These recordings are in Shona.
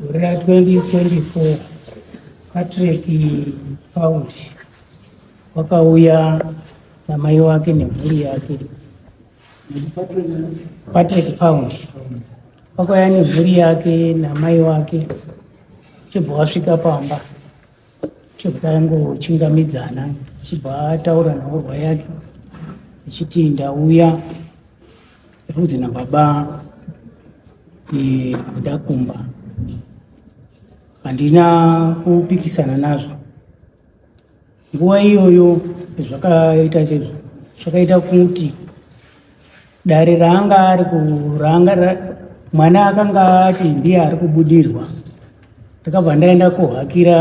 Gore ra 2024 Patrick Paul wakauya namai wake nemhuri yake Patrick Pound wakauya nemhuri yake namai wake chibva wasvika pamba Chokutangochingamidzana achibva ataura nhaurwa yake achiti ndauya rudzi nababa ndakumba handina kupikisana nazvo nguva iyoyo zvakaita sezvo zvakaita kuti dare raanga ari kuranga mwana akanga ati ndiye ari kubudirwa ndakabva ndaenda kohakira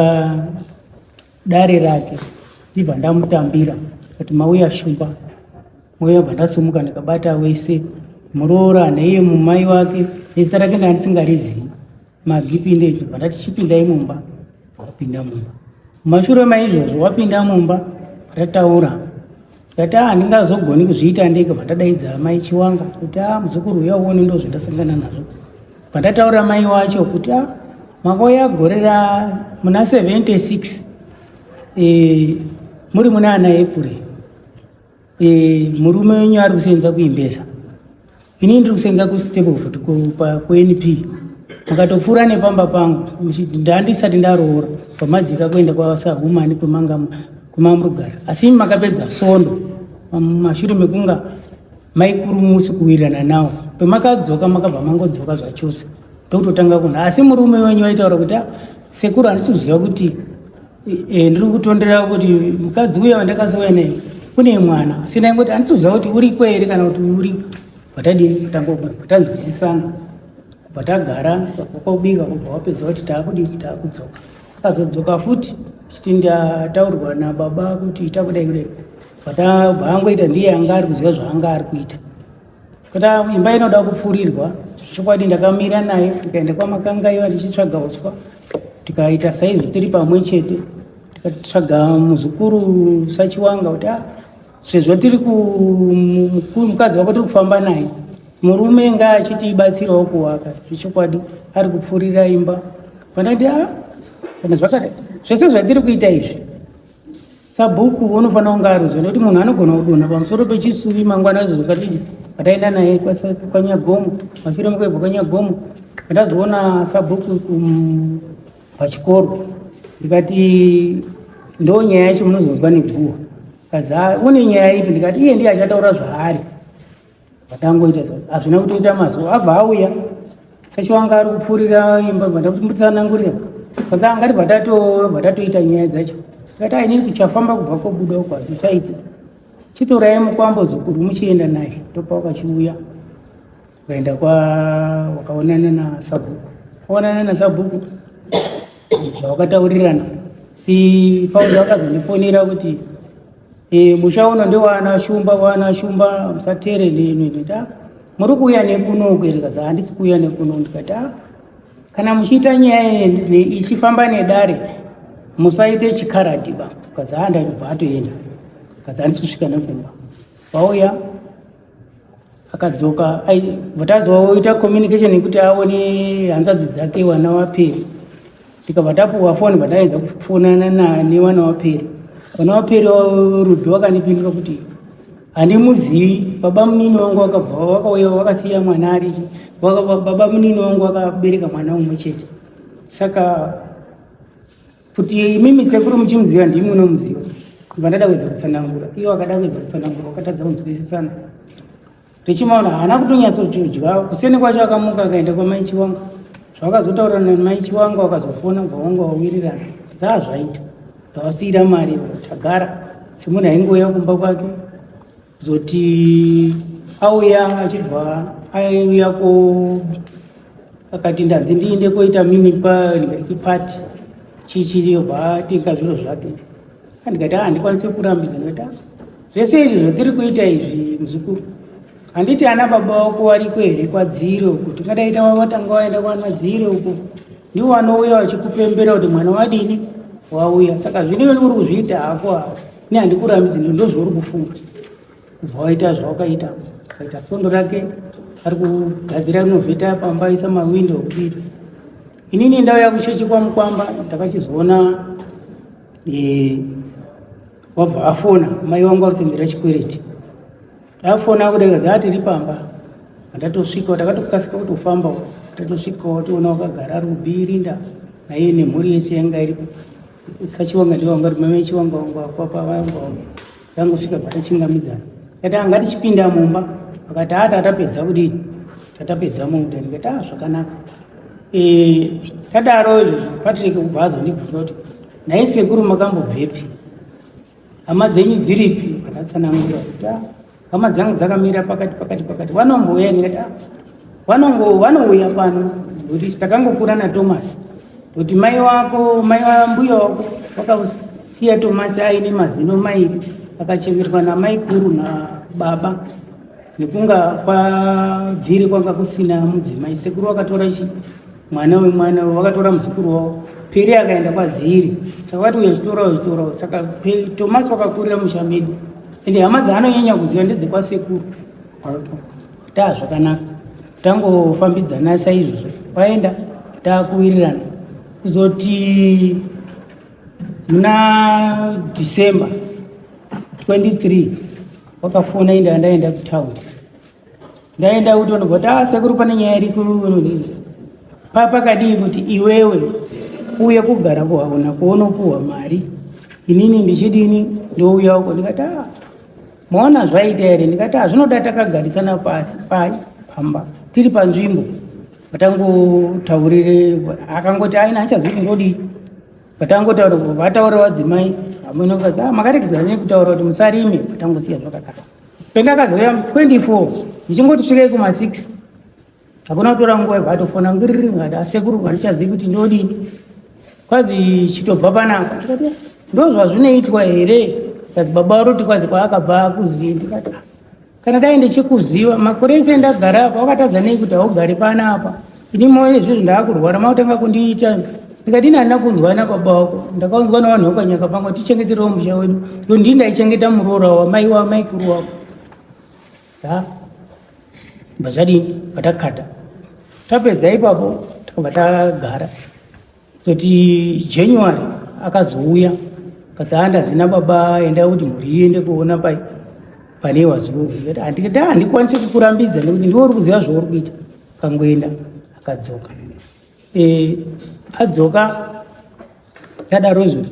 dare rake ndibva ndamutambira kati mauya shumba mauya bva ndasumuka ndikabata wese muroora neiye mumai wake nezita rake ndandisingarizivi magipinde ndibva ndati chipindai mumba wapinda mumba mumashure maizvozvo wapinda mumba tataura ndati a handingazogoni kuzviita ndeke vandadaidza mai chiwanga kuti a muzukuru uya uone ndo zvandasangana nazvo vandataura mai wacho kuti a makauya gore ra muna 76 e, muri muna ana epure e, murume wenyu ari kusenza kuimbesa inini ndiri kusenza kustepford kunp mukatopfuura nepamba pangu ndandisati ndaroora pamadzika kuenda kwasahumani kwemanga kwemamurugara asi imi makapedza sondo mashure mekunga maikurumusi kuwirirana nawo pemakadzoka makabva mangodzoka zvachose ndokutotanga kunha asi murume wenyu waitaura kuti ah, sekuru handisi kuziva kuti Eh, ndiri kutondera kuti mukadzi uya wandakazouya naye kune mwana asi ndaingoti andisiuziva kuti uriko here kana kuti uri patadii kutanga kugara patanzwisisana kubva tagara kwakubika kubva wapedza kuti taakudii taakudzoka akazodzoka futi chiti ndataurwa nababa kuti takudai kudai bva angoita ndiye anga ari kuziva zvaanga ari kuita kuti imba inoda kupfurirwa chokwadi ndakamira naye tikaenda kwamakangaiwa tichitsvaga uswa tikaita saizvi tiri pamwe chete tikatsvaga muzukuru sachiwanga kuti ah, sezvo tiri mukadzi wako tiri kufamba naye murume nga achitibatsirawo kuvaka zvechokwadi ari kupfurira imba pandati a ah, kana zvakadai zvese zvatiri kuita izvi Sabhuku unofanira kunge arudzwa nekuti munhu anogona kudonha pamusoro pechisuvi mangwana izvo zvakadii pataenda naye kwanyagomo mafiro mukaibva kwanyagomo ndazoona sabhuku um, pachikoro ndikati ndo nyaya yacho munozonzwa neguwa kazi une nyaya ipi ndikati iye ndiye achataura zvaari Vatangoita hazvina kutoita mazuva abva auya sechiwanga ari kupfuurira imba bvatambutsanangurira basa angati bvatatoita nyaya dzacho akati aine kuchafamba kubva kobuda uko hazvichaiti chitorai mukwambo zukuru muchienda naye ndopa wakachiuya ukaenda kwa wakaonana nasabhuku kaonana nasabhuku zvawakataurirana si pauda wakazondifonera kuti Eh, muchaona ndewana shumba wana shumba musatere nemi ndikati ah, muri kuuya nekuno ndikati ah, handisi kuuya nekuno ndikati ah, kana muchiita nyaya ichifamba nedare musaite chikaradhiba kazi handaiva atoenda kazi handisi kusvika nekumba vauya akadzoka vatazova woita communication yekuti aone hanzvadzi dzake wana waperi tikabva tapuhwa foni bvataiedza kufonana nane wana waperi wana waperi rudo wakandipindura kuti handimuzivi baba munini wangu wakabva wakauya wakasiya mwana ari baba munini wangu wakabereka mwana umwe chete saka kuti imimi sekuru muchimuziva ndimi unomuziva kubva ndada kuedza kutsanangura iye wakada kuedza kutsanangura wakatadza kunzwisisana richimaona haana kutonyatsochiudya kuseni kwacho akamuka akaenda kwamai chiwanga zvawakazotaura namai chiwanga wakazofona kubva wanga wawirirana dzaa zvaita ndawasiira mari tagara semunhu aingouya kumba kwake zoti auya achibva aiuya ko akati ndanzi ndiinde koita mini pati chichiribva atenga zviro zvake andikati a ah, ndikwanise kurambidza ndikati ah, zvese izvi zvatiri kuita izvi muzukuru handiti ana baba wako wariko here kwadziro uko tingadaita watanga waenda kwana dziro uko ndiwo wanouya wachikupembera kuti mwana wadini wauya saka zvine uri kuzviita hako hako ne handikurambizi ndozvauri kufunga kubva waita zvawakaita kaita sondo rake ari kugadzira rinovheta pamba isa mawindo okudii inini ndau yakuchechi kwamukwamba ndakachizoona e, wabva afona mai wangu arutsindira chikwereti Ndafona kudeka dzati ri pamba. Ndatosvika takatokasika kutofamba. Tatosvika watoona wakagara ari kubiri nda naiye nemhuri yese yanga iripo. Sachivanga ndivanga ri mame chivanga wangu akwapa vangu wangu. Ndangosvika patachingamidzana. Kati anga tichipinda mumba. Akati ata atapedza kudini. Tatapedza munda ndikati ah zvakanaka. Eh tadaro izvozvo Patrick kubva azondibvunza kuti naisekuru makambobvepi? hama dzenyu dziripi vakatsanangura kuti ah, hama dzangu dzakamira pakati pakati pakati vanombouya ndikati ah, vanongo vanouya pano kuti takangokura natomasi kuti mai wako mai wambuya wako vakasiya tomasi aine mazino mairi akachemerwa namai kuru nababa nekunga kwadziri kwanga kusina mudzimai sekuru wakatora chi mwana wemwana vakatora muzukuru wavo piri akaenda kwadziri saka vati uyazvitora uzvitora saka tomasi vakakurira musha medu ende hama dzaanonyanya kuziva ndedzekwasekuru taa zvakanaka tangofambidzana saizvozvo vaenda taakuwirirana kuzoti muna december 23 wakafona inda ndaenda kutaundi ndaenda uto ndikoti ah sekuru pane nyaya iri kunonini papakadii kuti iwewe uye kugara kuhaona kuonopuhwa mari inini ndichidini ndouya uko ndikati ah maona zvaita here ndikati ah zvinoda takagarisana pasi pai pamba tiri panzvimbo vatangotaurire akangoti aina achazivi kuti ndodii vatangotaura vataura vadzimai amwene ukazi ah makaregedzera nei kutaura kuti musarime vatangosiya zvakadaro Pendakazouya 24 ndichingoti svikei kuma 6 hakuna kutora nguva ibva atofona ngiriri ngati asekuru vandichazivi kuti ndodini kwazi chitobva panapa ndikati ndozvazvinoitwa here kazi baba varoti kwazi kwaakabva akuzivi ndikati kana dai ndichikuziva makore ese ndagara apa wakatadza nei kuti haugari panapa Ini moyo zviri ndakurwara makutanga kundiita ndikati ini handina kunzwa nababa wako ndakaunzwa navanhu vekanyaka pangu tichengeterewo musha wedu so ndii ndaichengeta muroora wamai wamaikuru wako ha bva zvadini patakata tapedza ipapo takabva tagara Zoti January akazouya kasi handazina baba enda kuti mhuri iende kuona pai pane wazuru handikati ah, handikwanise kukurambidza nekuti ndiwe uri kuziva zvauri kuita kangoenda akadzoka e, adzoka tadaro izvoti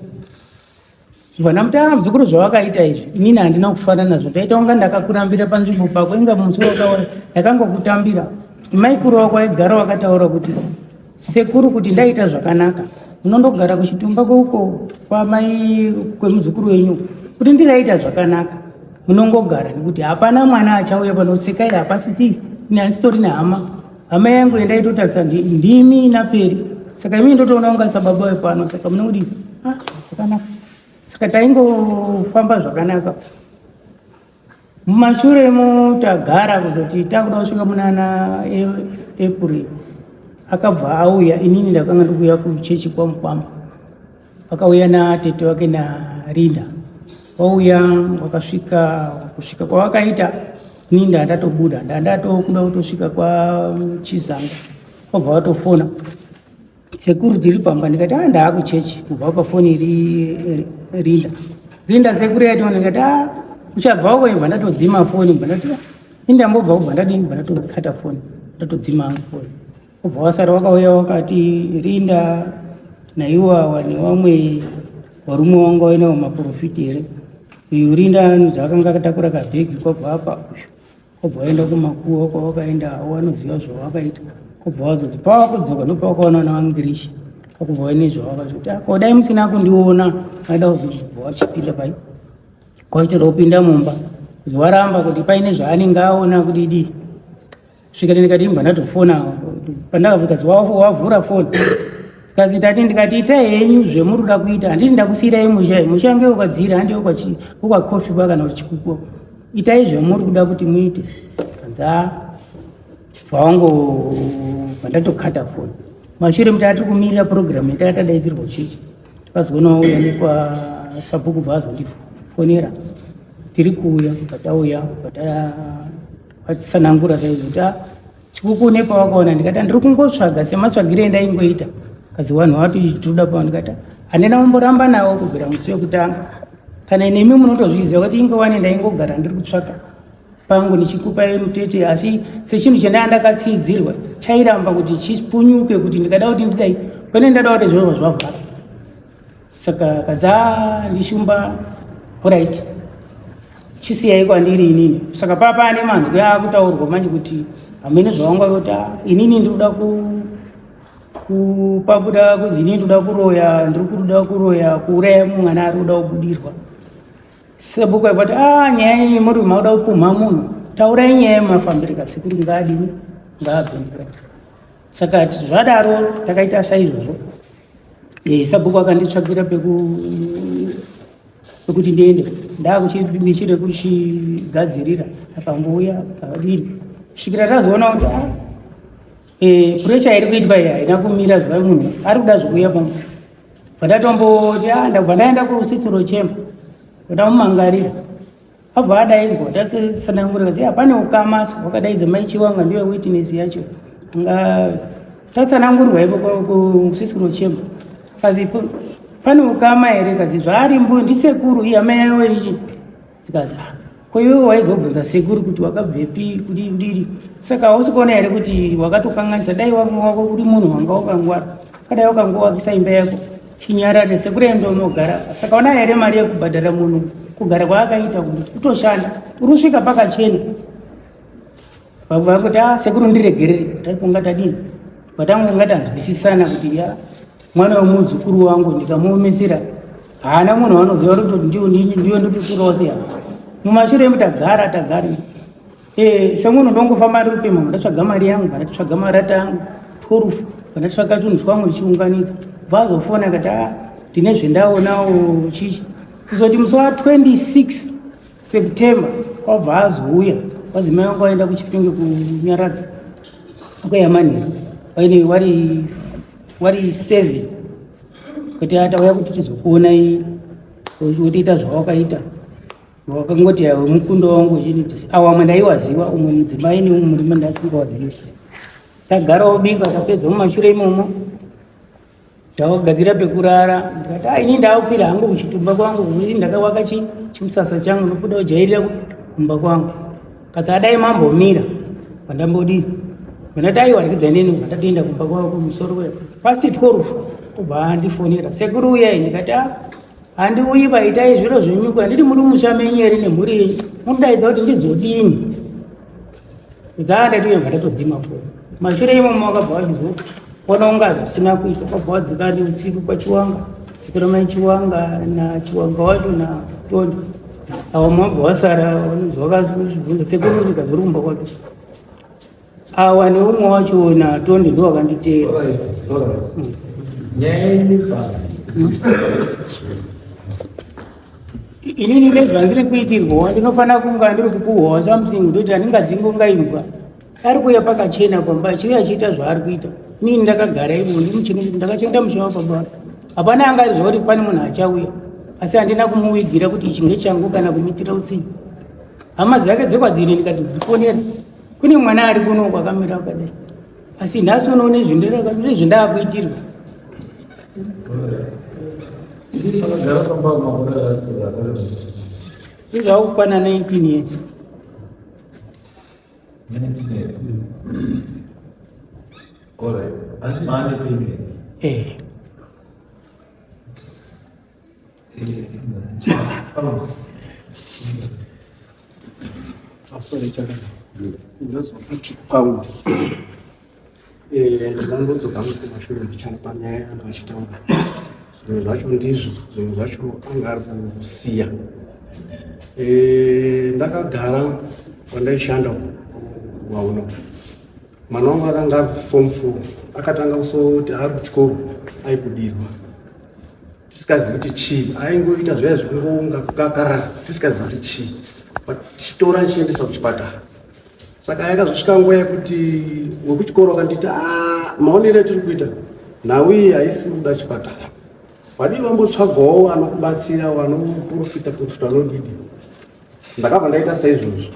Vana mutana muzukuru zvawakaita izvi inini handina kufana nazvo ndaita kunga ndakakurambira panzvimbo pako inga musi wakaona ndakangokutambira kuti maikuru wako aigara wakataura kuti sekuru kuti ndaita zvakanaka unondogara kuchitumba kweuko kwamai kwemuzukuru wenyu kuti ndikaita zvakanaka munongogara nekuti hapana mwana achauya panosekai hapasisi nyansitori nehama hama yangu yandaitotarisa ndimi naperi saka imii ndotoona kunga sababa wepano saka mune kudii ah, zvakanaka saka taingofamba zvakanaka mumashure mo tagara kuzoti takuda kusvika munana april akabva auya inini ndakanga ndikuuya kuchechi kwamukwamba Vakauya natete wake naRinda, vauya wakasvika kusvika kwavakaita ni ndandatobuda ndandatokuda kutosvika kwachizanga kwabva vatofona sekuru tiri pamba ndikati a ah, ndaakuchechi kubva pafoni iri rinda rinda sekuru yaitona ndikati a ah, uchabva uko ibva ndatodzima foni bva ndati ah, indambobva kubva ndadini bva ndatokata foni ndatodzima foni Kubva wasara wakauya wakati Rinda naiwa wani wamwe warume wanga wainawo maprofiti here uyu Rinda anonzi akanga akatakura kabhegi kwabva apa uyu kwabva waenda kumakuwa kwawakaenda awo anoziva zvawakaita kwabva wazonzi pawakudzoka ndopawakaona na wangirishi kwakubva waine zvawakazoti ako dai musina kundiona aida kuzobva wachipinda pai kwaitira kupinda mumba kuzi waramba kuti paine zvaanenge aona kudidii svikati ndikati imbwa ndatofona pandakavuka wavhura foni kazi tati ndikati ita henyu zvemuri kuda kuita handiti ndakusiyirai musha musha nge ukwadzira handi ukwakofi kwa kana uchikuko itai zvemuri kuda kuti muite kanza vawango vandatokata foni mashure muti atiri kumirira purogiramu itai tadaidzirwa uchichi tikazoona wauya nekwa sabhuku bva azondifonera tiri kuuya patauya pata vachitsanangura saizvo kuti ah, chikuku une pawakaona ndikati andiri kungotsvaga sematsvagire endaingoita kazi wanhu wati tinoda pao ndikati ah, handina kumboramba nawo kubvira musi wekutanga kana nemi munotozviziva kuti ingowani ndaingogara ndiri kutsvaka pangu ndichikupa mutete asi sechinhu chandanga ndakatsiidzirwa chairamba kuti chipunyuke kuti ndikada kuti ndidai pane ndada kuti zvova zvavhara saka kadza ndishumba orit chisiyaiko andiri inini saka papa ane manzwi akutaurwa manje kuti hamene zvawanga vota inini ndikuda ku kupabuda kunzi inini ndikuda kuroya ndiri kuda kuroya kuuraya mwana ari kuda kubudirwa sebuku aipati a ah, nyaya yenyu muri makuda kupumha munhu taurai nyaya yemafambiri kasi kuti ngaadini ngaabvendira saka zvadaro takaita saizvozvo eh, sabhuku akanditsvagira pekuti ndiende ndakuchida kuchigadzirira akambouya pakadini kusvikira tazoona kuti ah, eh, puresha iri kuitwa iyi haina kumira zva munhu ari kuda zvekuuya pamwe pandatomboti ah, ndakubva ndaenda kusisiro chemba kuda mumangarira abva adaidzwa tatsanangurira kuti hapane ukama so wakadaidza mai chiwanga ndiwe witness yacho nga tatsanangurwa iko kusisiro chemba kazi pane ukama here kazi zvaari mbuyo ndisekuru iye amai yavo ichi tikazi ah, ko iwe waizobvunza sekuru kuti wakabvepi kuti ndiri saka hausi kuona here kuti wakatokanganisa dai wako uri munhu wanga wakangwara kadai wakangowakisa imba yako Chinyarare sekuru enda unogara saka ona here mari yekubhadhara munhu kugara kwaakaita kutoshanda urusvika pakachena vamwe vakuti a ah, sekuru ndiregerere taikunga tadini patangonga tanzwisisana kuti ya mwana wemuzukuru wangu ndikamuomesera haana munhu wanoziva kuti ndiyo nditoturawo sei mumashure emu tagara tagari Eh, semunhu ndongofamba ndiri kupemha ndatsvaga mari yangu kana titsvaga marata yangu twelve kana titsvaga tunhu twangu ndichiunganidza bva azofona akati a ah, ndine zvendaonawo chichi kuzoti musi wa 26 september kwabva azouya kwazi mai wangu aenda kuchipinge kunyaradza kweyamani waine wari wari seven kuti atauya kuti tizokuonai wotiita zvawakaita wakangoti yawe mukundo wangu uchinitisi awamwe ndaiwaziva umwe mudzimai neumwe murume ndasingawazivi tagara wobika tapedza mumashure imomo tawagadzira pekurara ndikati a ini ndaakwira hangu kuchitumba kwangu kuii ndakawaka chimusasa changu nokuda kujairira kumba kwangu kasi adai mambomira pandambodii vandati aiwarikidza neni vandatoenda kumba kwavo kumusoro pasi tworufu kubva andifonera sekuru uyai ndikati a handiuyi vaitai zviro zvenyuko handiti muri musha menyu here nemhuri yenyu munodaidza kuti ndizodini zaa ndati uye vatatodzima fo mashure imomo wakabva wachizoona unga zvisina kuita wakabva wadzikani usiku kwachiwanga chitoromai chiwanga nachiwanga wacho natondi awo mabva wasara vanozwa kazvibvunza sekuru ndikazori kumba kwake awa neumwe wacho wona tonde ndo wakanditeera nyaya inibva inini nezvandiri kuitirwawa ndinofanira kunga ndiri kupuhwawa something ndoti handingadzingo ngaimbwa ari kuuya pakachena pamba achiuya achiita zvaari kuita inini ndakagara ivo ndimuchini ndakachengeta musha wapabara hapana anga arizva kuti pane munhu achauya asi handina kumuwigira kuti ichi ngechangu kana kumitira utsinyi hama dzake dzekwadzine ndikati dzifonera kune mwana ari kuno kwakamira kwadai asi nhasi unoone zvindaakuitirwa izvakukwana 19 years asi maane pembe eh ndakangotsoka hangu kumashure ndichana panyaya yangu achitaura zvimwe zvacho ndizvo zvimwe zvacho anga ari kusiya ndakagara kwandaishanda kuvaona mwana wangu akanga abva form four akatanga kusoti ari kuchikoro aikudirwa tisikazivi kuti chii aingoita zvaya zvekungounga kukakara tisikazivi kuti chii but chitora ndichiendesa kuchipatara saka yakazosvika nguva yekuti wekuchikoro akandiita ah, maonero atiri kuita nhau iyi haisi kuda chipatara Wadii vambotsvagawo vanokubatsira vanoprofita profita vanodidi. Ndakabva ndaita saizvozvo.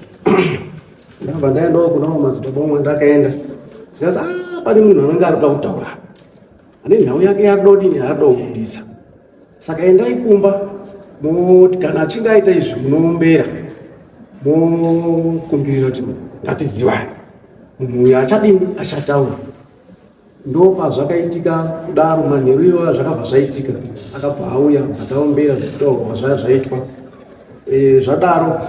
Ndakabva ndaendawo kuna madzibaba omwe ndakaenda. Zikazi ah pane munhu anenge ari kuda kutaura. Ane nhau yake yadodini yaada kubuditsa. Saka endai kumba moti kana achinge aita izvi munoombera mokumbirira kuti ngatizivane munhu uyo achadini achataura Ndopazvakaitika kudaro manheru iyoya zvakabva zvaitika akabva auya bvataombera zvekutaurwa zvaya zvaitwa e, zvadaro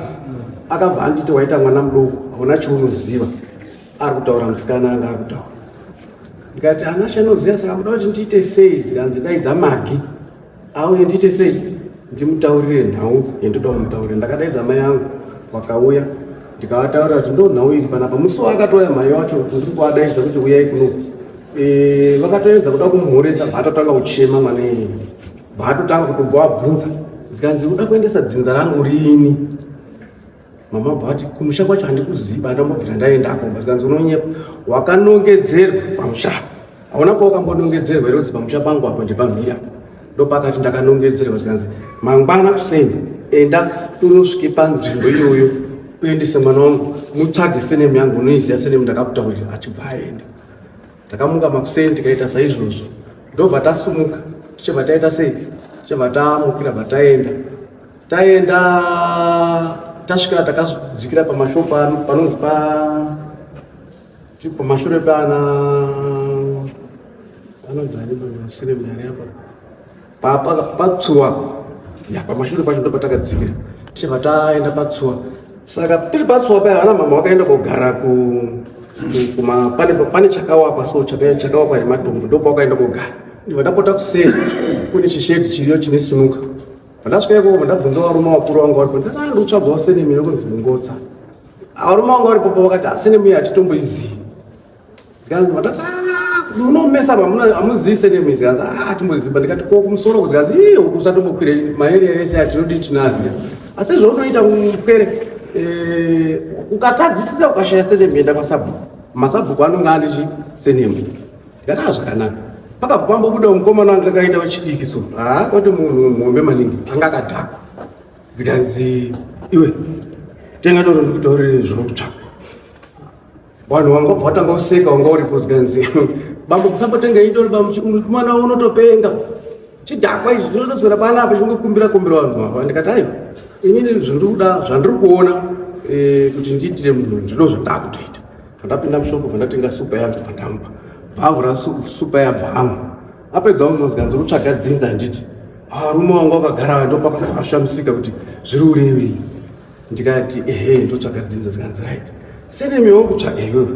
akabva anditi waita mwana mudoko hauna chaunoziva ari kutaura musikana anga ari kutaura ndikati anashe anoziva saka muda kuti ndiite sei zikanzi daidza magi auye ndiite sei ndimutaurire nhau yandoda kumutaurira ndakadaidza mai yangu vakauya ndikavataurira kuti ndo nhau iri panapa musi waakatouya mai wacho ndiri kuvadaidza kuti uyai kuno e, vakatoedza kuda kumhoresa bvaatotanga kuchema mwana iyeye bvaatotanga kutobva wabvunza zikanzi uda kuendesa dzinza rangu riini mama but kumusha kwacho handikuziva andambobvira ndaendako basikanzi unonyepa wakanongedzerwa pamusha hauna kuva wakambonongedzerwa here kuti pamusha pangu apo ndipamhira ndopakati ndakanongedzerwa zikanzi mangwana kuseni enda unosvike panzvimbo iyoyo uendese mwana wangu mutsvage senemu yangu unoiziva senemu ndakakutaurira achibva aenda Takamuka makuseni tikaita saizvozvo ndobva tasumuka tichibva taita sei tichibva tamukira bva taenda taenda tasvika takadzikira pamashopa panonzi pa pamashure pana panonzi ari pasiremari apa patsuwa pamashure pacho ndopatakadzikira tichibva taenda patsuwa saka tiri patsuwa paya vana mama vakaenda kogara pane chakawakwa so chakawakwa nematombo ndopa vakaenda kogara ndivadapota kuseri kune chishedi chiriyo chine sinuka vandasvika ikoko vandabvunza varume vakuru vanga varipo ndakaandotsvagwa usenemira kunzi mungotsa varume vanga varipopo vakati asenemira hatitomboizivi Zikanzi vatati ah, unomesa pamuna amuzivi senemi zikanzi ah timboziba ndikati ko kumusoro kuzikanzi ii uku usatombokwire maarea ese atinodii tinaziya asi zvaunoita mupwere eh, ukatadzisisa ukashaya senemi enda kwasabhuku masabhuku anonga andichi senemi ndikati ah zvakanaka pakabva pambobuda mukomana anga akaita wechidiki so haa ah, kwati munhu muhombe maningi anga akadhakwa zikanzi iwe tenga toro ndikutaurire zvokutsvaka Vanhu vanga vabva vatanga kuseka wanga uri kuzwa nzi bambo kusambotenga indori bambo mwana unotopenga chidhakwa izvi zvinotoswera panapa chingokumbira kumbira vanhu vava ndikati ayi inini zvandiri kuda zvandiri kuona eh, kuti ndiitire munhu ndino zvandakutoita vandapinda mushoko vandatenga supa yangu vandamupa vavhura supa yabvamu apedza unozga ndiri kutsvaga dzinza handiti arume ah, wangu wakagara ndopakafasha musika kuti zviri urevei ndikati ehe ndotsvaga dzinza zikanzi right senemiwo kutsvaga iwewe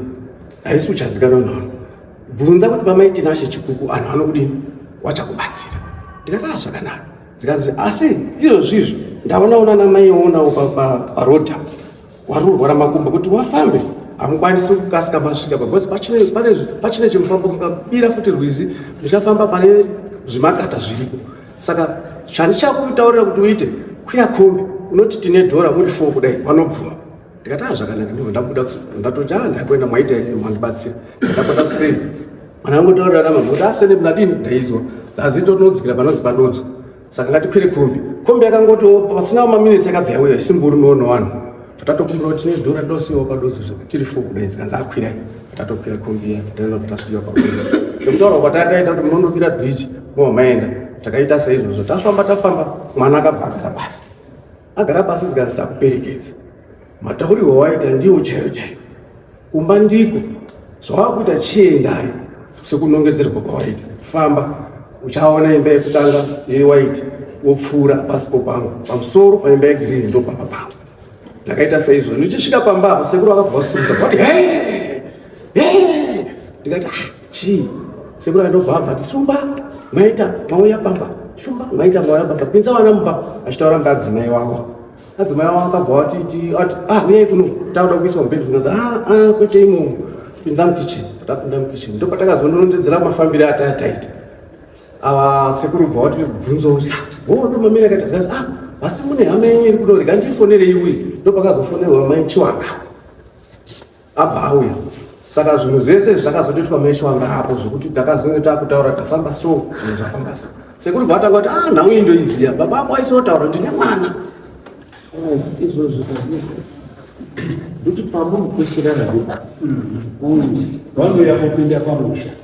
haisi uchazikana unhu wangu bvunza kuti vamaitinashe chikuku anhu anokudini wachakubatsira ndikati a zvakanaka zikanzi asi izvozvi izvi ndaonaona namai oonawo paroda wari urwara makumba kuti wafambe hamukwanisi kukasika masvika pacoz pachine chimufambo mukabira futi rwizi muchafamba pane zvimakata zviriko saka zvandichakutaurira kuti uite kwira kombi unoti tine dhora muri fo kudai vanobvuma ndikati a zvakanaka ndibva ndabuda ndatoti a ndakuenda mwaita ini mandibatsira ndakuenda kuseni kana angotaurira namama kuti asene mnadini ndaizwa ndazito tinodzikira panonzi padodzo saka ngatikwire kombi kombi yakangotiwo pasina maminitsi yakabva yauya isimburi noona wanhu Patatokumbira kuti tine dhora dosiwa padodzo zvekuti tiri fo kudai zikanzi akwira patatokwira kombiya tataenda patasiwa padodzo sekutaura kwatataita kuti munonokira bridge mobva maenda takaita seizvozvo tafamba tafamba mwana akabva agara pasi agara pasi zikanzi takuperekedza mataurirwo waita ndiwo chaiyo chaiyo kumba ndiko zvawakuita chiendai sekunongedzerwa kwawaita famba uchaona imba yekutanga yewhite wopfuura pasi popangu pamusoro paimba yegreen ndo pamba pangu ndakaita seizvo ndichisvika pamba apo sekuru vakabva vasimuka vati ndikati ah, chii sekuru andobva abva ti shumba maita mauya pamba shumba maita mauya pamba pinza vana mumba achitaura mbadzimai wavo adzimai avo vakabva vatiti ati ah uyai kuno takuda kuiswa mubhedhi tikaza ah ah kwete imomo pinza mukitchen tapinda mukitchen ndopatakazondorondedzera mafambire atataita ava sekuru bva vati bvunzo kuti ah, wo oh, ndomamira kaita zikazi ah asi mune hama yenyu iri kunorega ndifonerei uyi ndopakazofonerwa mai chiwaka abva auya saka zvinhu zvese izvi zvakazotoitwa mecho anga apo zvekuti takazonge takutaura tafamba so zvinhu zvafamba so sekuru bva atanga kuti ah nhau iyi ndoiziva baba ako aisotaura ndine mwana oh, izvozvo ndokuti pamunhu kwechirara vanoyakopinda pamusha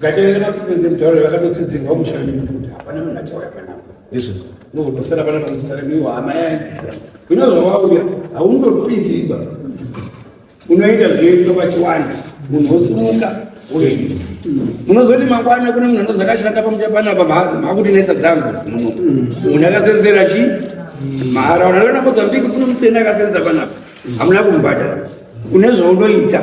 Gachaenda masikwenzi mutauro vakatotsidzirwa mushandi mukuti hapana munhu achauya panapa. Izvo. Nokutosara pana pamusara miwo hama yangu. Zvino zvawauya haundopindi iba. Unoita zvoitwa pachiwanda munhu wosumuka woenda. Munozoti mangwana kune munhu anonzi akashanda pamutya panapa mhazi makuti nesa dzangu muno. Munhu akasenzera chi? Mahara unaona Mozambique kune museni akasenza panapa. Hamuna kumbadara. Une zvaunoita.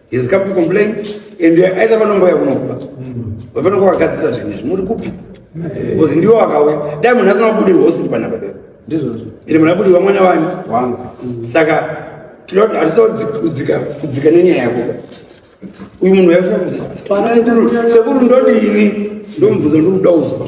He has come to complain and either vanongouya kunokuba vanongo vakadzisa zvinhu izvi muri kupi bcoz ndiwo vakauya dai munhu asina kubudi hosi ndipana padero ende munhu abudi vamwana vanyu saka tinoda kuti hatisa kudzika kudzika nenyaya yako uyu munhu yasekuru ndodini ndomubvunza ndikuda uzwa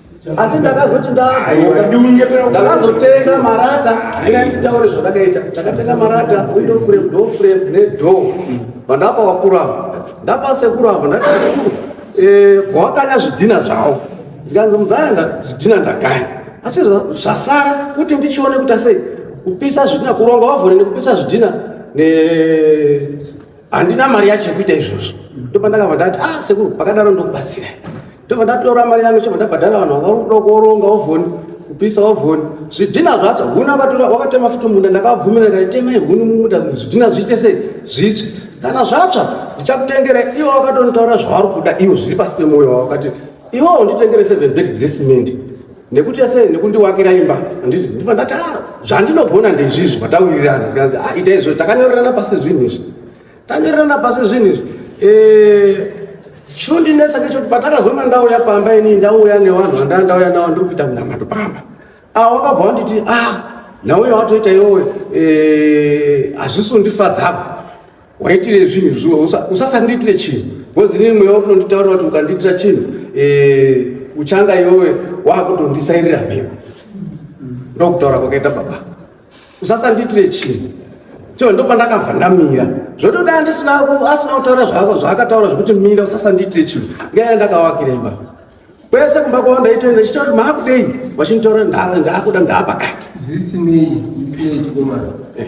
asi ndakazoti ndadzoka ndakazotenga marata ina nditaure zvandakaita ndakatenga marata window frame door frame nedoor vandapa vakuru ava ndapa sekuru ava ndakaekuru eh, vawakanya zvidhina zvavo zikanzi mudzayanga zvidhina ndagaya asi zvasara kuti ndichione kuita sei kupisa zvidhina kuronga wavhone nekupisa zvidhina ne handina mari yacho yekuita izvozvo ndopa ndakabva ndati ah sekuru pakadaro ndokubatsira ndobva ndatora mari yangu chobva ndabhadhara vanhu vakakuda kuoronga ovhoni kupisa ovhoni zvidhina zvacho huni akatora wakatema futi munda ndakabvumira kati temai huni mumuda zvidhina zviite sei zvitsve kana zvatsva ndichakutengera iwo wakatonitaura zvavari kuda iwo zviri pasi pemwoyo wavo kati iwowo nditengere seven bags dzesimendi nekuti ase nekundiwakira imba handiti ndifa ndati a ah, zvandinogona ndezvizvi vatawirirana zikanzi a ah, ita izvo takanyorerana pasi zvinhu izvi tanyorerana pasi zvinhu izvi eh, chinondinetsa ngechoti patakazonga ndauya pamba inii ndauya nevanhu vandanga ndauya navo ndiri kuita munamato pamba a ah, wakabva wanditi a nauya watoita iwowe eh, hazvisi undifadzako waitire zvinhu zviwa usasandiitire chinhu bcoz inini mweya uri kutonditaurira kuti ukandiitira chinhu eh, uchanga iwewe waakutondisairira mhepo ndokutaura kwakaita baba usasandiitire chinhu choo ndo pandakabva ndamira zvotoda andisina asina kutaura zvako zvaakataura zvekuti mira usasandiitire chinhu ngeya ndakawakira imba kwese kumba kwavo ndaitoenda chitoti maakudei vachinditaura ndaakuda ndaapakati zvisinei zvisinei chikomana eh.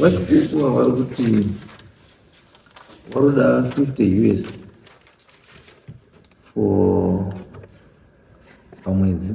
vachikuwa vari kuti vari kuda 50 us for pamwedzi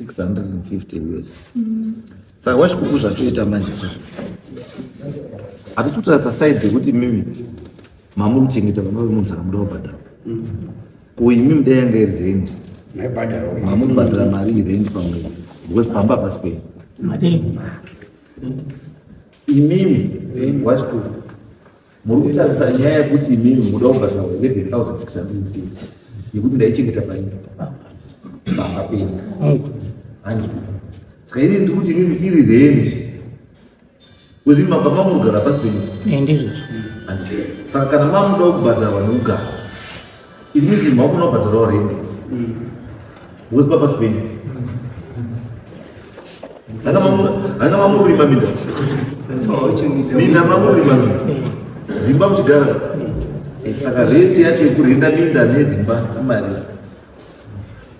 650 us mm. saka wachikuku zvatoita manje so hatitotarisa side yekuti mimi mamuri kuchengeta vana vemunzaka muda kubhadhara mm. ko imi muda yanga iri rendi mamuri kubhadhara mari irendi pamwedzi because pamba hapasi penyu imimi wachikuku Muri kutarisa nyaya yekuti imimi muda kubhadhara 11650 yekuti ndaichengeta paini banga penyu hanzi saka ini ndiri kuti imimi iri rendi kuzi mabva mamurugara pasi penyu eh, ndizvozvo saka kana mamuda kubhadharwa nekugara It means you move over the road. Who's Papa Spain? Hanga mamu, hanga mamu rima minda. Minda mamu rima minda. Zimba mchigara. Saka rate yacho yekurinda minda nedzimba imari.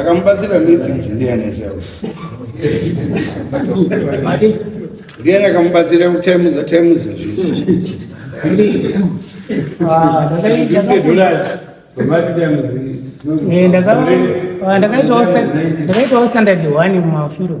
Akamubatsira midzi idzi ndiani zvawo? Ndiani akamubatsira kutaimuza taimuza zvinhu? Ah, eh, ndakaitawo standard one mumafiro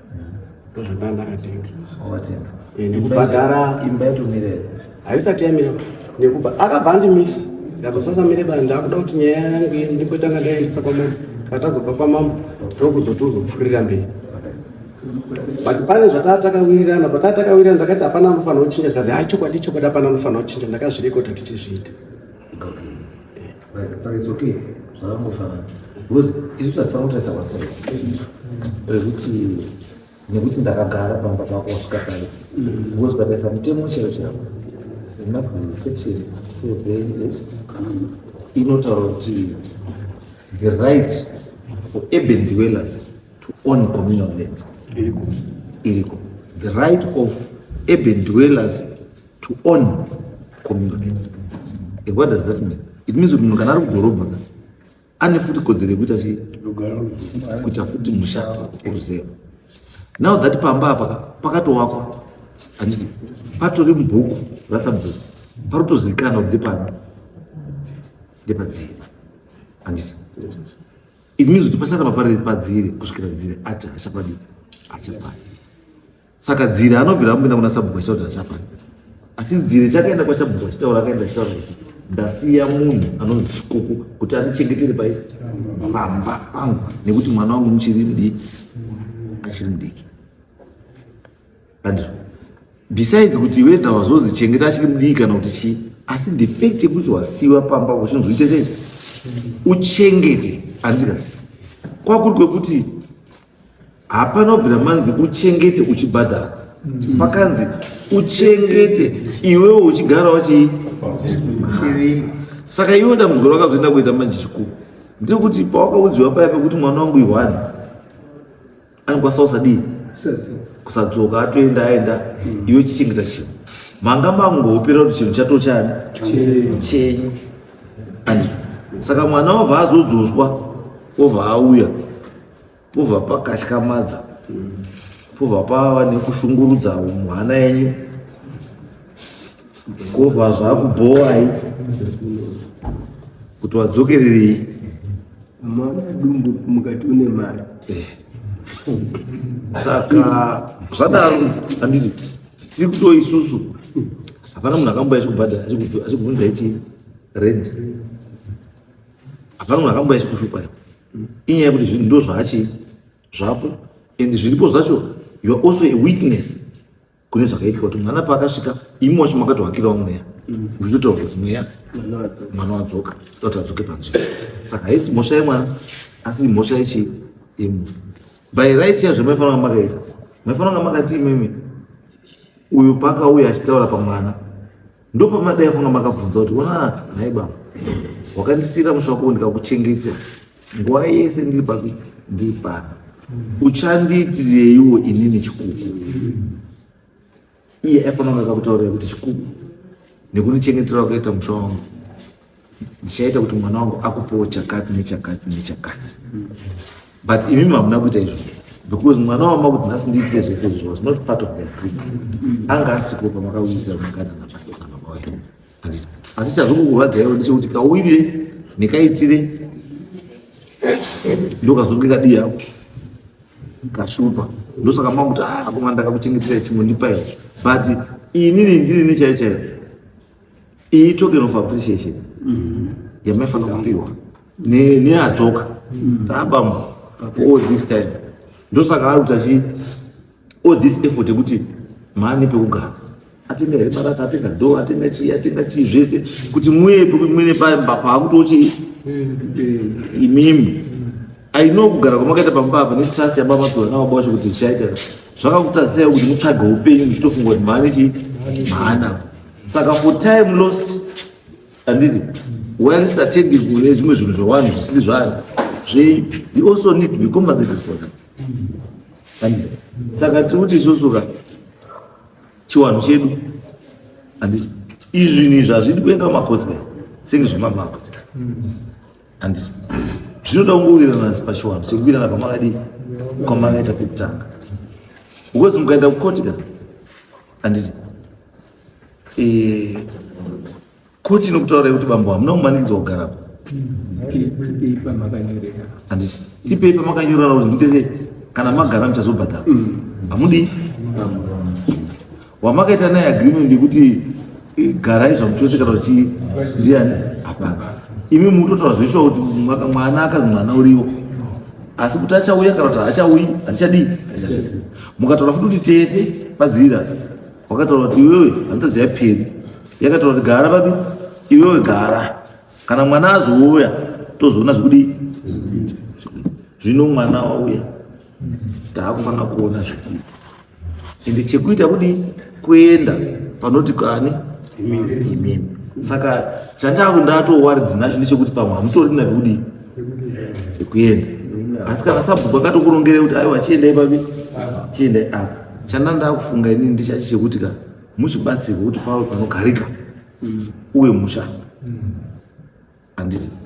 haisati yamira nekuba akabva andimisa ndakazosasamire bani ndakuda kuti nyaya yange ndikotanga ndaendesa kwamambo katazobva kwamambo ndokuzoto uzopfuurira mberi but pane zvataa takawirirana pataa takawirirana ndakati hapana anofanira kuchinja zikazi ha chokwadi chokwadi hapana anofanira kuchinja ndakazvirekota tichizviita Saka it's okay zvakangofanana because isu tatifana kutarisa whatsapp rekuti nekuti ndakagara pamba pako wasvika pale because pataisa mutemo chero chero must be section seven inotaura kuti the right for urban dwellers to own communal land iriko the right of urban dwellers to own community and what does that mean it means kuti munhu kana ari kudhorobha ka ane futi kodzero yekuita chii kuita futi musha oruzero now that pamba apa pakatowakwa handiti patori mubhuku ratsabhuku parotozikana kuti ndepani ndepadziri handiti it means kuti pasaka papariri padziri kusvikira dziri ati hachapadii hachapadi saka dziri anobvira amupinda kuna sabhuku achitaura kuti achapani asi dziri chakaenda kwachabhuku achitaura akaenda achitaura kuti ndasiya munhu anonzi chikuku kuti andichengetere pai pamba pangu nekuti mwana wangu muchiri mudiki achiri mudiki andizvo besides kuti weda wazozichengeta achiri mudiki kana kuti chii asi the fact yekuti wasiwa pamba uchinzoite sei uchengete andika kwakuri kwekuti hapana kubvira manzi uchengete uchibhadhara mm. pakanzi uchengete iwewe uchigarawo chii saka iwe dambudziko rakazoenda kuita manje chikuru ndiri kuti pawakaudziwa paya pekuti mwana wangu ihwani anokwanisa kusadii kusadzoka atoenda aenda mm. iwe chichengeta chinhu manga mangopera kuti chinhu chato chani chenyu and saka mwana wabva azodzoswa obva auya Pobva pakatyamadza, pobva pava nekushungurudza mwana yenyu, kobva zvakubhowai kuti wadzokererei mwana dumbu mukati une mari eh. saka zvadaro handiti tiri kuto isusu hapana munhu akamboya chikubhadhara achikubvunza ichi rent hapana munhu akamboya chikushupa inyaya yekuti zvinhu ndo zvachi zvapo and zviripo zvacho youare also a witness kune zvakaitwa kuti mwana paakasvika imi wacho makatohakirawo mweya muchitotaura kuti mweya mwana wadzoka toti adzoke panzvimbo saka haisi mhosva yemwana asi imhosva yechi yemufi by right yazvo maifanira kunga makaita maifanira kunga makati imimi uyu paakauya achitaura pamwana ndopamadai fanga makabvunza kuti ona nhai baba wakandisiira musvako ndikakuchengeta nguva yese ndiri papi ndiri pano uchandiitireiwo inini chikuku iye aifanira kakutaurira kuti chikuku nekundichengetera wakaita musha wangu ndichaita kuti mwana wangu akupewo chakati nechakati nechakati but imi mamuna kuita izvo because mwana wama kuti nhasi ndiitire zvese izvi was not part of the agreement anga asiko pamakauyidza mukana napaoaoa asi chazvokukurwadzaiwo ndechekuti kauyire nekaitire ndokazonge kadii hako kashupa ndosaka makuti akomana ah, ndakakuchengetera chimwe ndipaiwo but inini ndiri nechaichaiwo Iyi token of appreciation mm-hmm. yamaifanira kupiwa neadzoka mm-hmm. taabamba for all this time ndosaka ari kuti achi all this effort yekuti maane pekugara atenga here marata atenga do atenga chii atenga chii zvese kuti muye pamene pamba paakutochi imimi I know kugara kwamakaita pamba apa netrust yababa Piwa nababa vacho kuti zvichaita zvakakutadzisai kuti mutsvage upenyu muchitofunga kuti mhani chii mhana saka for time lost anditi whilst attending kune zvimwe zvinhu zvewanhu zvisiri zvanhu zve you also need to be compensated for that anditi saka tiri kuti isusu ka chiwanhu chedu anditi izvinhu izvi hazvidi kuenda kumacotsmen senge zvemamako and zvinoda kungowirirana pachiwanhu sekuwirirana kwamakadi kwamakaita pekutanga because mukaenda kukoti ka anditi eh, koti inokutaura yekuti bambo hamuna kumanikidzwa kugarapo anditi tipei pamakanyorana kuti nditese kana magara muchazobhadhara hamudii wamakaita naye agreement yekuti eh, garai zvamuchose kana uchi ndiani hapana imi mutotaura zveshuwa kuti mwana akazi mwana uriwo asi kuti achauya kana kuti haachauyi hatichadii hatichazvisi mukataura futi kuti tete padzira wakataura kuti iwewe hanitazi yaperi yakataura kuti gara papi iwewe gara kana mwana azouya tozoona zvekudii zvino mwana wauya taakufanira kuona zvekuita ende chekuita kudi kuenda panoti kani imimi saka chandaku ndatowaridzi nacho ndechekuti pamwe hamutorina kudi ekuenda asi kana sabhuku akatokurongere kuti aiwa chiendai papi chiendai apa chanda ndakufunga inini ndichachi chekuti ka muzvibatsirwe kuti pave panogarika uye musha handiti mm.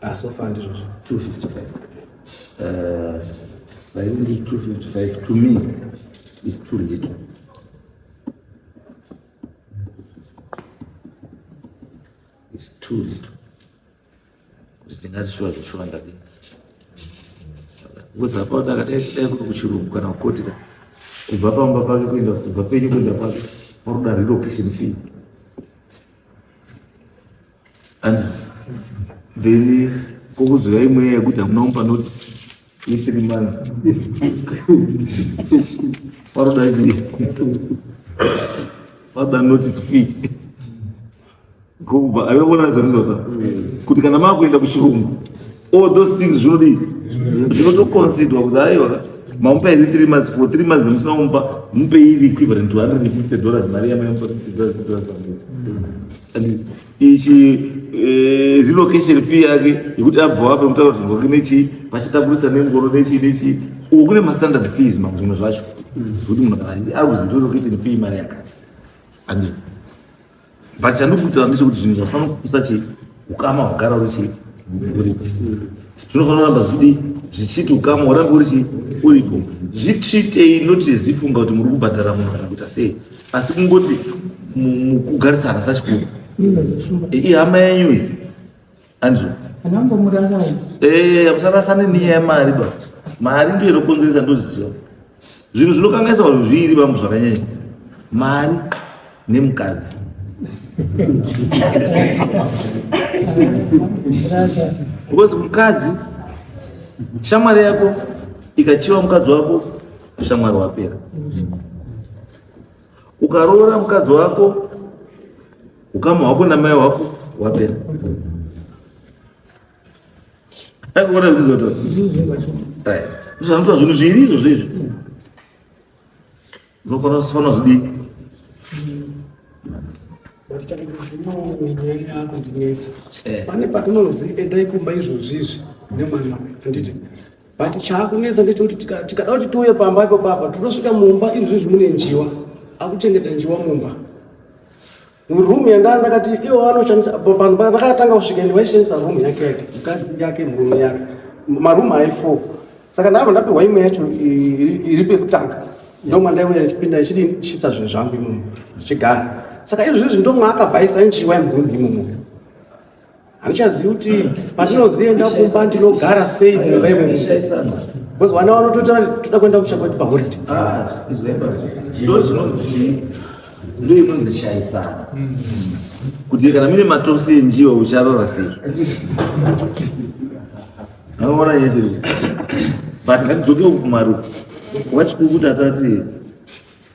Ah, so far ndizvo zvo 255. Uh, I think 255 to me is too little. It's too little. Kuti tingati shuwa zveshuwa ndadii. Because apa ndakadai kudai kuti kuchirungu kana kukoti ka kubva pamba pake kuenda kubva penyu kuenda pake paroda relocation fee. and then kokuzouya imweya yekuti hamuna mupa notice yethree months varoda varoda notice fee kubva aivaona zvanizota kuti kana maakuenda kuchirungu all those things zvinodii zvinotoconsidwa kuti aiwa mamupa iri three months for three months musina kumupa mupe iri equivalent to hundred and fifty dollars mari yamaimupa fifty dollars fifty dollars pamwedzi ichi eh, relocation fee yake yekuti abva apa kutaura kuti zvake nechi pachitakurisa nengoro nechi nechi uku kune mastandard fees mamwe zvimwe zvacho zvekuti munhu kana ari kuzi relocation fee mari yakati andi but chandikutaura ndechekuti zvinhu zvafana kukusa chi ukama hwagara uri chi uripo zvinofanira kuramba zvidii zvichiti ukama hwarambe uri chi uripo zvitsvitei notizifunga kuti muri kubhadhara munhu kana kuita sei asi kungoti mukugarisana sachikuru ihama yenyu iyi andrew musarasane niya yemari ba mari ndiyo inokonzeresa ndozviziva zvinhu zvinokangaisa vanhu zviiri vamwe zvakanyanya mari nemukadzi because mukadzi shamwari yako ikachiva mukadzi wako ushamwari hwapera ukaroora mukadzi wako ukama hwako namai wako hwapera akuona zvizoto zvanoitwa zvinhu zviiri izvo zvezvi unofanira kufanira zvidii pane patinozi endai kumba izvozvizvi nemwana anditi but chaakunetsa ndechekuti tikada kuti tiuye pamba ipo papa tinosvika mumba izvizvi mune njiwa akuchengeta njiwa mumba room yandaa ndakati iwo anoshandisa vanhu vakatanga kusvika ndi vaishandisa room yake yake mukadzi yake murume yake maroom ayi four saka ndava ndapihwa imwe yacho iri pekutanga ndomandaiuya ndichipinda ndichidi chisa zvinhu zvangu imomo ndichigara saka izvizvi ndomwaakabvaisa njiwa yemurumu imomo handichazivi kuti pandinozoenda kumba ndinogara sei mumba imomo bcause vana vanotoita toda kuenda kucha kwati paholiday ndo inonzi shaisana kuti kana mine matosi enjiwa ucharora sei anoona yete but ngatidzokewo kumaruko wachikukuta tati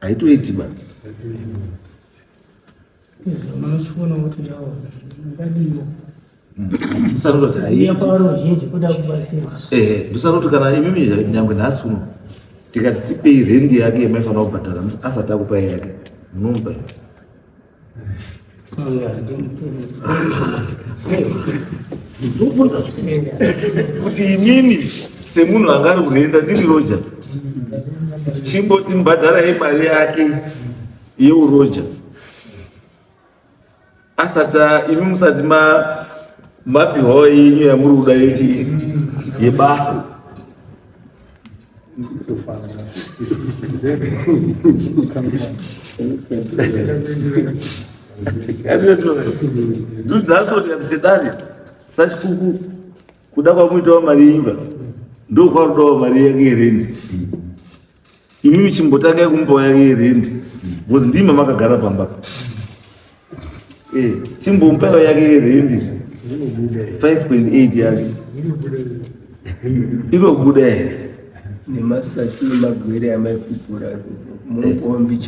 haitoiti ba munochiona kuti nawo ndadiwa ndosaroti kana imimi nyangwe nhasi uno tikati tipei rendi yake yamaifanira kubhadhara asati akupai yake munomupa kuti inini semunhu anga ari kurenda ndiri roja chimboti mbhadharai mari yake yeuroja asati imi musati mapiwawo yenyu yamuri kuda yechi yebasa ndudzasotiakusedani sachikuku kuda kwamuitawo mari yenyika ndokwarudawo mari yake yerendi imimi chimbotangai kumupawo yake yerendi bcause ndima makagara pambaka chimbomupewo yake yerendi 5.8 yake inobuda here nemasaki nemagwere amaipupura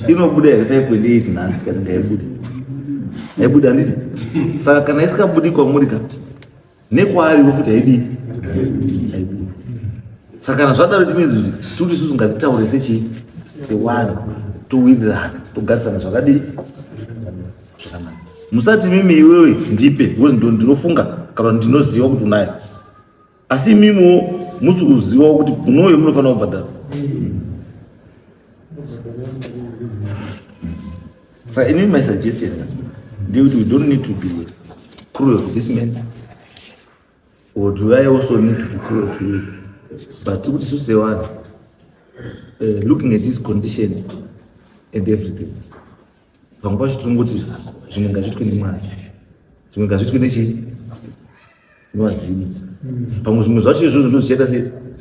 inobuda here 5.8 nhasi kana ndaibuda ndaibuda handisi saka kana isikabudi kwamuri ka nekwaari vofuti haidi saka kana zvadaro tinenzi kuti tiri isusu ngatitaure sechii sewanhu towirirana togarisana zvakadii zvakanaka musati mimi iwewe ndipe because ndinofunga kana ndinoziva kuti unayo asi imimiwo musi kuzivawo kuti unoyo munofanira kubhadhara So anyway, my suggestion is we don't need to be cruel to this man. Or do I also need to be cruel to you? But to say what, uh, looking at this condition and everything, pamwe pacho tinongoti zvimwe ngazvitwe nemwana zvimwe ngazvitwe nechii vadzimu pamwe zvimwe zvacho izvozvo ndozvichaita se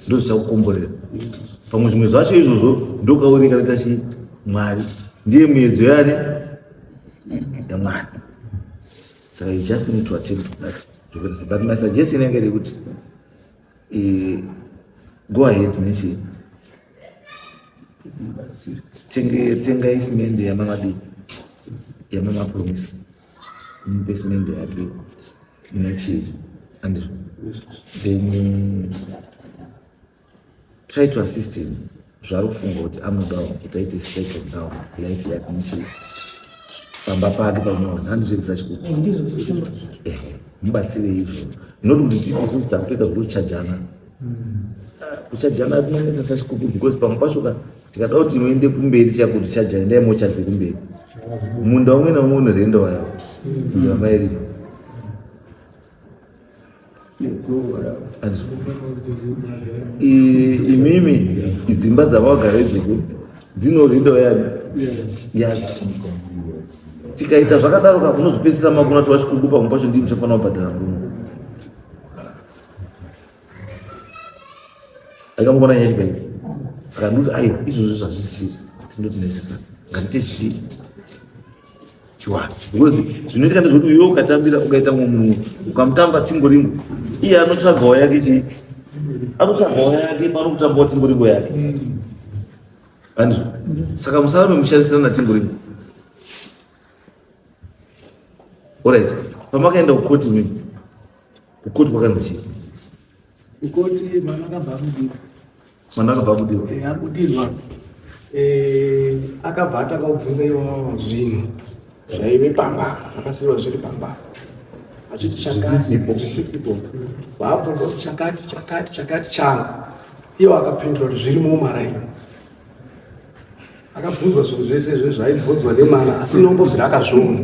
ndozvichakukomborera pamwe zvimwe zvacho izvozvo ndokaoneka rita chi mwari ndiye muedzo yane yamwari saka you just need to attend to that zvokuita but my suggestion yange iri kuti eh, go ahead nechii tengai simende yamavadii yamamapromisa Basement yake nechii and then try to assist him zvaari kufunga kuti anodawo kuti aite second down life yake nechii pamba pake panyowani handizvedzisa chikuti mubatsire izvo not kuti tiisusu takutoita zvekuchajana kuchajana kunonetsa sachikuku because pamwe pacho ka tikada kuti inoende kumberi chakuti chaja endai mocharwe kumberi munda umwe naumwe unorenda wayawo ndamairima imimi idzimba dzavagara idzoko dzinorenda wayani yacho tikaita zvakadaro ka unozopedzisira makuna tovachikukupa mupacho ndii muchafanira kubhadhara nguno akamubona nyaya chibei saka ndoti aiwa izvozvo zvazvisi sindoti nesisa ngandite chichi chiwani because zvinoitika ndezvekuti uyo ukatambira ukaita munhu ukamutamba timbo rimwe iye anotsvagawo yake chi anotsvagawo yake pano kutambawo timbo rimwe yake andizvo saka musara memushandisirana timbo rimwe orit pamakaenda kukoti mimi Kukoti kwakanzi chii? Kukoti mwana akabva abudirwa. Mwana akabva abudirwa. Eh, abudirwa. Eh, akabva ataka kubvunza iwawo zvinhu zvaive pamba, akasiiwa zviri pamba. Achiti chakati, zvisisipo. Vaabvunza kuti chakati, chakati, chakati changu. Iwo akapindura kuti zviri mumaraini. akabvunzwa zvinhu zvese izvo zvaibvunzwa nemana asi nombobvira akazviona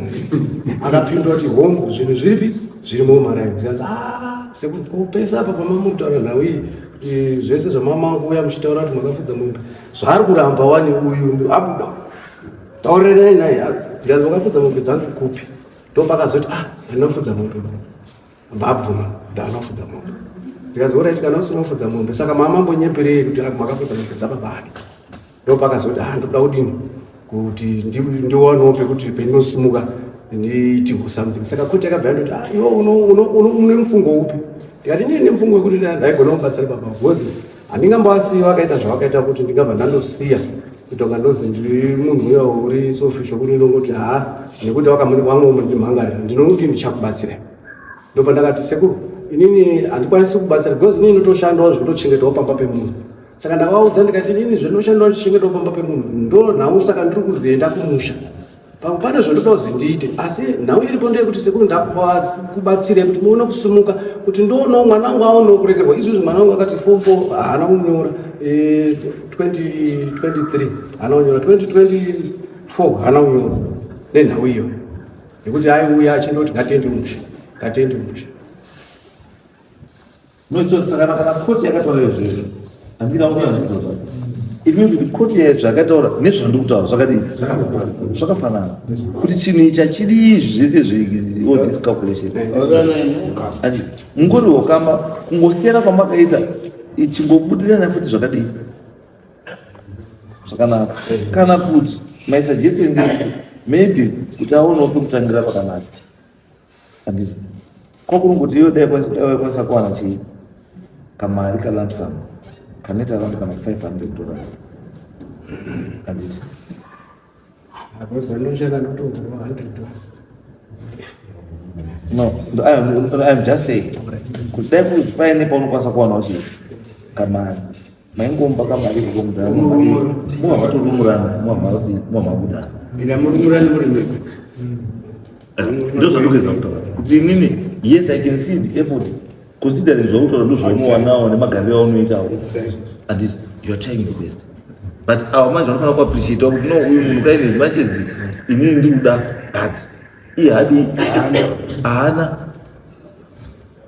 akapindura kuti hongu zvinhu zviripi zviri momaraizikanzi ah, sekupesa apa pamamutaura nhau iyi kuti zvese zvamamakuuya muchitaura kuti makafudza mumba zvaari kuramba wani uyu abuda taurirei naye zikanzi makafudza mombe dzangu kupi ndopakazoti ah handinafudza mombe vabvuma kuti anofudza mombe dzikazouraiti kana usina kufudza mombe saka mamambo nyeperei kuti makafudza mombe dzababa ake ndo pakazoti ah ndoda kudini kuti ndiwanewo pekuti pendinosimuka ndiiti kusomething saka koti yakabva yandoti ah, iwe une mufungo upi ndikati ndine mufungo wekuti ndaigona kubatsira baba bhozi handingambovasiyi vakaita zvavakaita kuti ndingabva ndandosiya kutonga ndozi ndiri munhu uya uri sofisho kuti ndongoti haa nekuti wakamwangomunimhangarira ndinonoti ndichakubatsira ndopandakati sekuru inini handikwanisi kubatsira because inini ndotoshandawo zvekutochengetwawo pamba pemunhu saka ndakavaudza ndikati inini zvendoshanda uchichengetwa pamba pemunhu ndo nhau saka ndiri kuzoenda kumusha pamwe pane zvandoda kuzi ndiite asi nhau iripo ndeyekuti sekuru ndakubatsire kuti muone kusumuka kuti ndoonawo mwana wangu aonewo kuregerwa izvozvi mwana wangu akati fom fo haana kunyora 2023 eh, haana kunyora 2024 haana kunyora nenhau iyo nekuti aiuya achindoti ngatendi mushe ngatendi mushe Saka kana koti yakataura izvezvo handina kuona zvinhu it means kuti koti zvakataura nezvandiri kutaura zvakadii zvakafanana kuti chinhu icha chiri zvese zveall this calculation ati mungori hokama kungosiyana kwamakaita ichingobudirana futi zvakadii zvakanaka kana kuti my suggestion maybe kuti aonewo pekutangira pakanaka Andizvo. Ko kuri kuti iwe dai kwanisa dai kwanisa kuwana chii? Kamari ka lump sum kanoita around kana 500 dollars. Andizvo. Because vanoshanda ndotohura 100 dollars. No, no, I'm, I'm just saying. Kudai kuti paine paunokwanisa kuwanawo chii? Kamari. maingomba kamari kukomudhara muva matorumurana muva mabuda ndina murumurani muri mega ndozvandogeza kutaura kuti inini yes i can see the effort considering zvakutaura ndozvaunowanawo nemagariro aunoitawo andit youare trying your best but awa manje vanofanira kuappreciatawo kuti no uyu munhu kaine zimachedzi inini ndikuda but iye hadi haana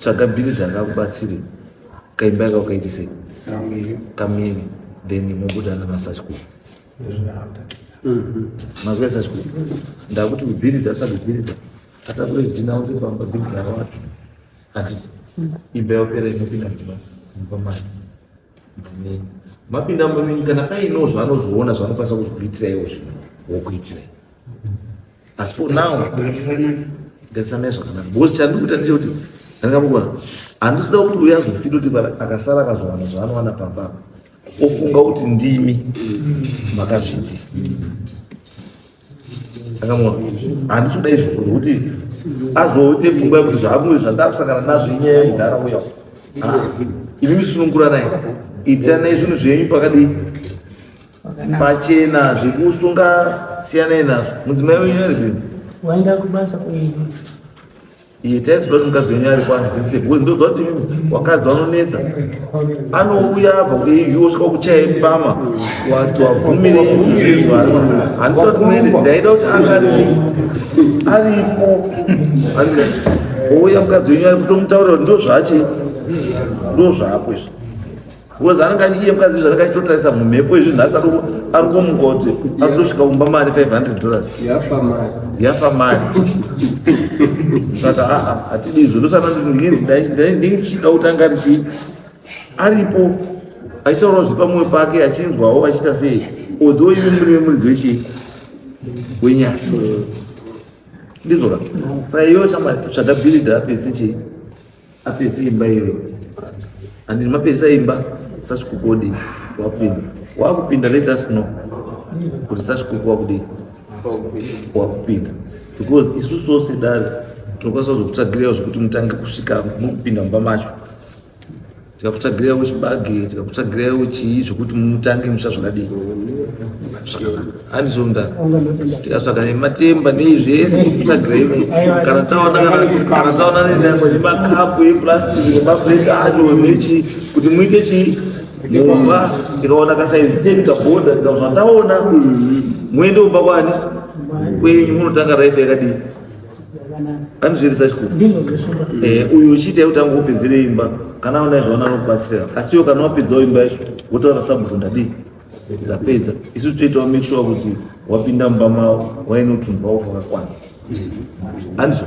tsvaga bhiri dzakakubatsire kaimba yaka ukaitise kamiri then mobuda namasachku mhm. mazwa sachku ndakuti bhiri dzatsvaga bhiri dza atakure dinaunze pamba bhiri dzakawati handiti imba yaopera inopinda muchibaa pamari mapinda munyika kana paino zvaanozoona zvaanokwanisa kuzokuitira iwo zvino wokuitira asi for now garisanai zvakanaka because chandikuita ndicho kuti angamukona handisida kuti uya azofita kuti akasara akazowana zvaanowana pamba ofunga kuti ndimi makazviitisa handisi kuda izvo zvekuti azoite pfungwa yekuti zvaamuri zvandakusangana nazvo inyaya yedhara uya ah, imi misununguranai itiranai zvinhu zvenyu pakadii pachena zvekusunga siyanai nazvo mudzimai wenyu ari zvino waenda kubasa kuii itai zviva nomukadzi wenyu ari kwanzise because ndoziva kuti wakadzi vanonetsa anouya abva kuiyu osvika kuchaya mbama wati wabvumire zvinhu handisi vati muende ndaida kuti anga aripo aripo ouya mukadzi wenyu ari kutomutaurira kuti ndozvache ndozvapo izvi Because anenge achiye mukadzi izvi anenge achitotarisa mumhepo izvi nhasi adoko ari kumuka kuti ari kutosvika kumba mari 500 dollars yafa mari yafa mari saka aa hatidi izvo ndosaka ndichida kuti anga richi aripo achitaurawo zve pamwoyo pake achinzwawo achiita sei although ive muri vemuridzi wechii wenyasha ndizvoka saka iyoyo chama chadabhirida pesi chii Apedza imba iyo and mapedza imba sachikukodi wakupinda wakupinda let us know kuti sachikuku wakudii wakupinda because isu so sedari tinokwanisa kuzokutsvagirira zvekuti mutange kusvika mukupinda mumba macho tikakutsvagirira wechibage tikakutsvagirira wechii zvekuti mutange musha zvakadii anizvonda tikasvaka nematemba nei zvese titsvagirei kana taona kana taona nenyango nemakapu eplastic nemabreak acho nechi kuti muite chii mumba tikaona kasaizi chedu taboda tikazvataona muende kumba kwani kwenyu munotanga raife yakadii anozvirisa chikuru eh, uyu uchiita yekuti angopedzere imba kana aona izvaona anokubatsira asi iwo kana wapedzawo imba yacho wotaura sabvunda dii tapedza isu toitawo make sure kuti wapinda mumba mavo waine utunhu wavo hwakakwana andizvo